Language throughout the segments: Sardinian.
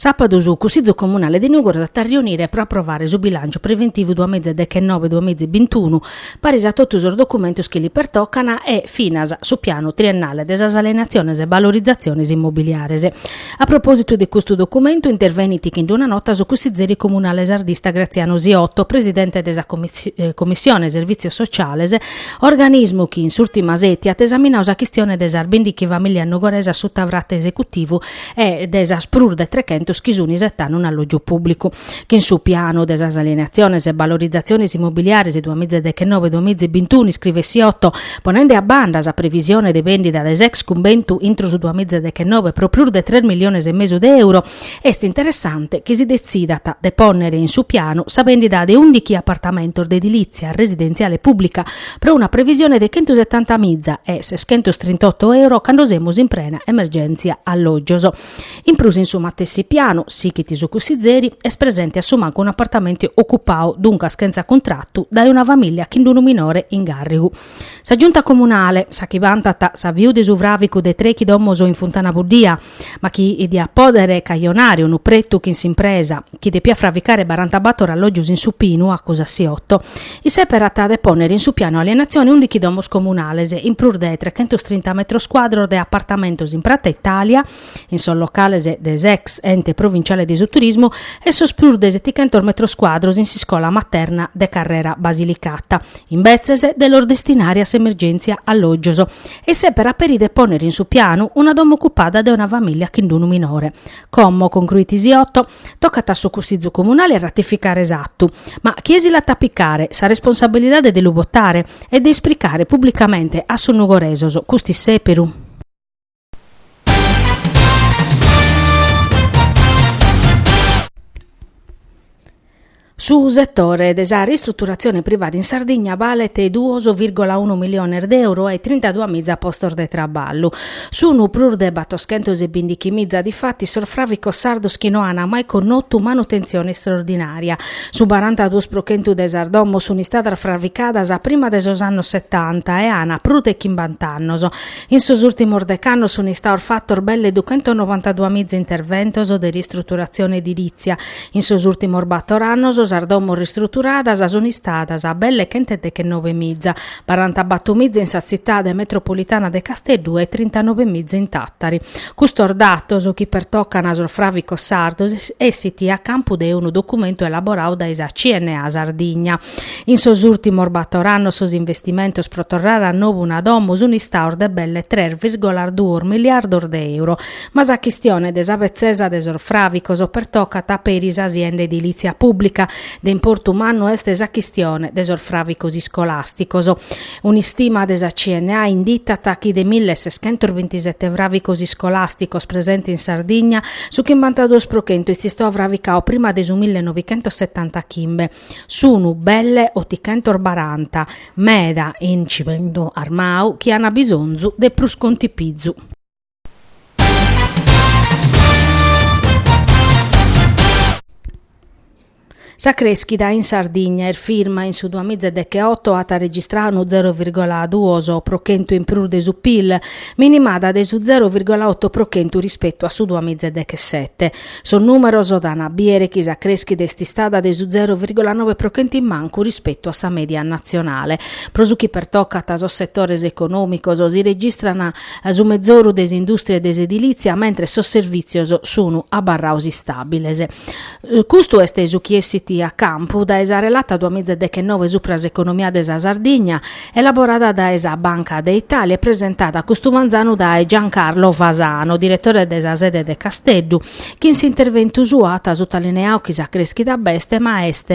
Sàpadu su Cussìgiu Comunale de Nùgoro s'at a riunire pro aprovare su bilànciu preventivu duamìgia e dechenobe duamìgia e bintunu, paris a totu sos documentos chi li pertocan e, finas, su pianu triennale de sas alienatziones e valorizatziones immobiliares. A propòsitu de custu documentu intervenit chin una nota su cussizeri comunale sardista Graziano Siotto, presidente de sa Comissione Servitzios Sociales, organismu chi in s'ùrtima seti at esaminadu sa chistione de sas bindighi famìlias nugoresas suta isfratu esecutivu e de sas prus de trechentos chi sunt isetande un'allògiu pùblicu. Chin su pianu de sas alienatziones e valorizatziones immobiliares duamìgia deghenove duamìgia bintunu iscrivet Siotto, ponende a banda sa previsione de bèndida de s'ex cumbentu intro su duamìgia deghenove pro prus de tres miliones e mesu de euro, Est interessante chi si detzidat de pònnere in su pianu sa bèndida de ùndighi apartamentos de edilìtzia residentziale pùblica pro una previsione de chentu setanta miza e seschentos trint'oto euro cando semus in prena emergèntzia allògios. In prus in su matessi pianu, sighit su cussizeri, est presente a su mancu un'apartamentu ocupadu, duncas chentza cuntratu, dae una famìlia chin d'unu minore in gàrrigu. Sa Giunta Comunale, sa chi vantat s'aviu de su fràvicu de trèchi domos in Funtana Buddia, ma chi diat pòdere cajonare unu pretu chin s'impresa, chi depiat fraficare barantabator allògios in su Pinu, acusat Siotto, isèperat de pònnere in su pianu 'e alienatzione undichi domos comunales, in prus de trechentos trinta metros cuadros de apartamentos in Prata Italia, in sos locales de s'ex Ente Provinciale de su Turismu e sos prus de setichentos metros cuadros in s'iscola materna de Carrera Basilicata, imbetzes de los destinare a s'emergèntzia allògios. E isèperat peri de ponner in su pianu una domo ocupada de una familia chin d'unu minore. Como concruit Siotto, tocat a su Cussizu Comunale a ratificare s'attu, ma chie si l'at a picare sa responsabilidade de lu botare e de ispricare pubblicamente a sos nugoresos cust'issèperu? Su setore de sa ristruturatzione privada in Sardigna balet duos virgola unu miliones de euro e trintaduas miza postos de traballu. Sunt prus de batoschentos e bindichi miza difatis sos fràficos sardos chi no ant mai connotu manutentzione istraordinària. Su barantaduos pro chentu de sas domos sunt istadas fràficadas a prima de sos annos setanta e ant prus de chimbant'annos. In sos ùrtimos dec'annos sunt istados fatos belle duchentonovantadua miza interventos de ristruturatzione edilìtzia, In sos ùrtimos bator annos sas domos ristruturadas sunt istadas belle chentudechenove miza, barantabator miza in sa tzitade metropolitana de Casteddu e trintanove miza in Tàtari. Custos datos, chi pertocan a sos fràvicos sardos, essit a campu de unu documentu elaboradu dae sa CNA Sardigna. In sos ùrtimos bator annos sos investimentos pro torrare a nou una domo sunt istados de belle tres virgola duos miliardos de euro, Ma sa chistione de sa betzesa de sos fràvicos pertocat peri sa sienda edilìtzia pùblica. De importu mannu est sa chistione de sos fràvicos iscolàsticos. Un'istima de sa CNA inditat chi de mille e seschentos bintisete fràvicos iscolàsticos presentes in Sardigna, su chimbantaduos pro chentu est istau fravicau prima de su mille novichentos setanta chimbe. Sunu belle otichentos baranta, meda in cimentu armau, chi ant bisonzu de prus contipizu. Sa crèschida in Sardigna est firma, in su duamiza e dechioto at registrau unu zero virgola duos pro chentu in prus de su Pil, minimada de su zero virgola oto pro chentu rispetu a su duamiza e dechesete. Sos nùmeros dan a biere chi sa crèschida est istada de su zero virgola noe pro chentu in mancu rispetu a sa mèdia natzionale. Pro su chi pertocat sos setores econòmicos si registran su mezoru de s'indùstria e de s'edilìtzia, mentres sos servìtzios sunu abarraos istàbiles. Custu est su chi essit a campu dae sa relata duamìza e dechenove supra s'economia de sa Sardigna, elaborada dae sa Banca de Italia e presentada custu manzanu dae Giancarlo Fasano, diretore de sa sede de Casteddu, chi in s'interventu suo at sutalineau chi sa crèschida b'est ma est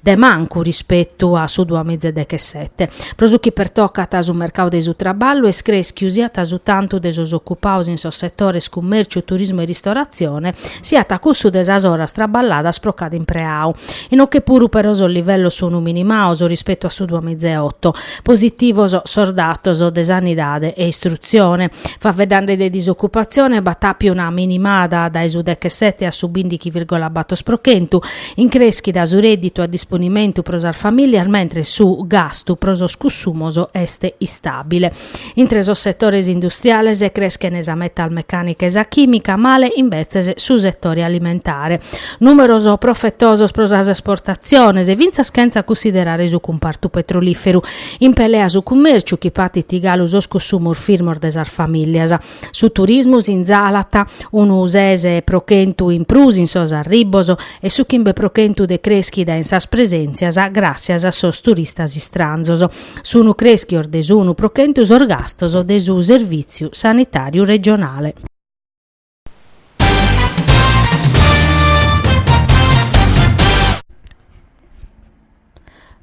de mancu rispetu a su duamiza e dechesete. Pro su chi pertocat su mercadu de su traballu, est crèschiu siat su tantu de sos ocupaos in sos setores cummèrciu, turismu e ristoratzione, siat cussu de sas oras traballadas pro cada impreau, inoche puru però sos livellos sunu minimaos rispetu a su duamiza e oto. Positivos sos datos de sanidade e istrutzione. Faveddande de disocupatzione b'at àpiu una minimada dae su dechesete a su bindighi virgola bator pro chentu, In crèschida su rèdditu a disponimentu pro sas famìlias mentres su gastu pro sos cussumos est istàbile. Intre sos setores industriales creschent sa metalmecànica e sa chìmica, male imbetzes su setore alimentare. Nùmeros profetosos pro sas esportatziones, fintzas chentza cussiderare su cumpartu petrolìferu. In pelea su cummèrciu chi patit galu sos cussumos firmos de sas famìlias. Su turismu sinzalat unu ses pro chentu in prus in sos arribos e su chimbe pro chentu de crèschida in sas presèntzias gràssias a sos turistas istranzos. Sunu crèschios de s'unu pro chentu sos gastos de su Servìtziu Sanitàriu Regionale.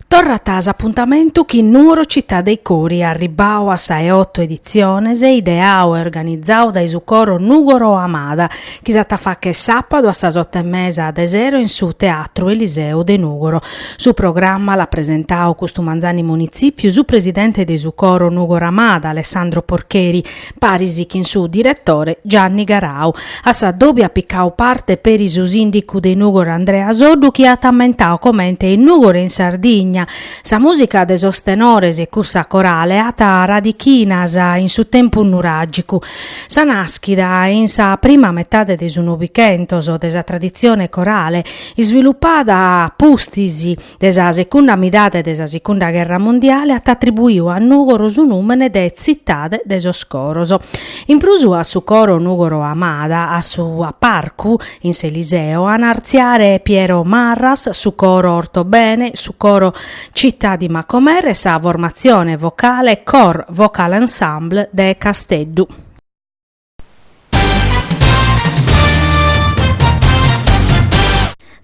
Torrat s'apuntamentu chin Nuoro Città dei Cori arribbau a sa 'e oto editziones ideau e organizau dae su coro Nugoro Amada chi s'at a fàcher sàpadu a sas oto e mesa de sero in su Teatru Eliseo de Nugoro. Su programma l'at presentau custu manzanu in munitzìpiu su presidente de su coro Nugoro Amada, Alessandro Porcheri, paris chin su diretore Gianni Garau. A sa dòbia at picau parte peri su sindicu de Nugor Andrea Soddu chi at ammentau comente in Nugor e in Sardigna sa musica de sos tenores e cussa corale at radichinas in su tempus nuragicu. Sa naschida in sa prima metade de su Novichentos de sa tradizione corale isvilupada pustis de sa secunda midade de sa secunda gherra mondiale at atribuiu a Nùgoro su nùmene de Tzitade de sos Coros. In prus a su coro Nùgoro Amada a su parcu in s'Eliseo an a artziare Piero Marras, su coro Ortobene, su coro Città di Macomer e sa formatzione vocale Cor Vocal Ensemble de Casteddu.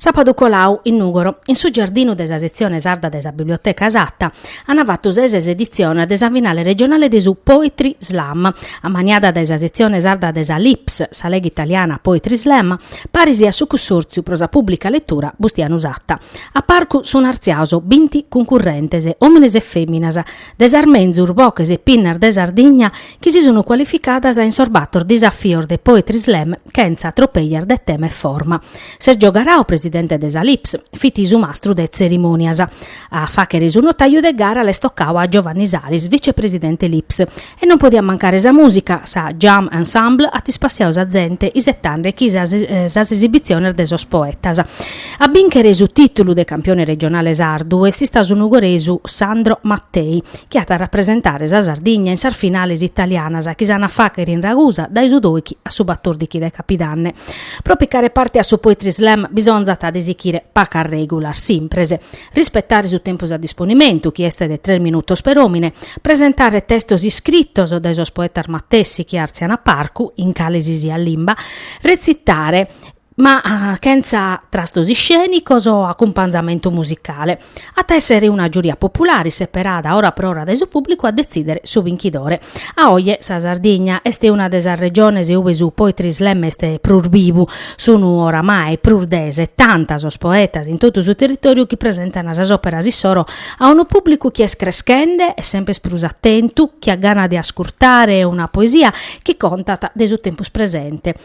Sàbadu colau, in Nùgoro, in su giardinu de sa setzione sarda de sa Biblioteca Satta, ant fatu sa 'e ses editziones de sa finale regionale de su Poetry Slam, ammaniada dae sa setzione sarda de sa LIPS, sa Lega Italiana Poetry Slam, paris a su Cussòrtziu pro sa Pùblica Letura Bustianu Satta. A parcu sunt artziados binti cuncurrentes, òmines e fèminas, de sas menzus boches e pinnas de Sardigna chi si sunu cualificadas in sos bator disafios de Poetry Slam chentza tropejas de tema e forma. Sergio Garau, presidente de sa LIPS, fit su mastru de tzerimonias. A faghere su notaju de gara l'est tocadu a Giovanni Salis, vicepresidente LIPS, e non podiat mancare sa musica, sa Jam Ensemble at ispassiadu sa zente isetande chi sas esibitziones de sos poetas. A binchere su titulu de campione regionale sardu est istadu su nugoresu Sandro Mattei, chi at a rapresentare sa Sardigna in sas finales italianas chi s'an a fàghere in Ragusa dae su doighi a su batòrdighi de capidanne. Pro picare parte a su Poetry Slam bisonzat de sighire pacas règulas simpres, rispetare su tempus a disponimentu chi est de tres minutos per òmine, presentare testos iscritos dae sos poetas matessi chi àrtzian a parcu, in cale si siat limba, retzitare, ma chentza trastos iscènicos o acumpanzamentu musicale. At a èssere una giuria populare seperada ora pro ora dae su pùblicu a detzìdere su binchidore. A oje sa Sardigna est una de sas regiones ue su poetry slam est prus bivu, sunt oramai prus de setanta sos poetas in totu su territòriu chi presentan sas òperas issoro a unu pùblicu chi est creschende e semper prus atentu, chi at gana de ascurtare una poesia chi contat de su tempus presente.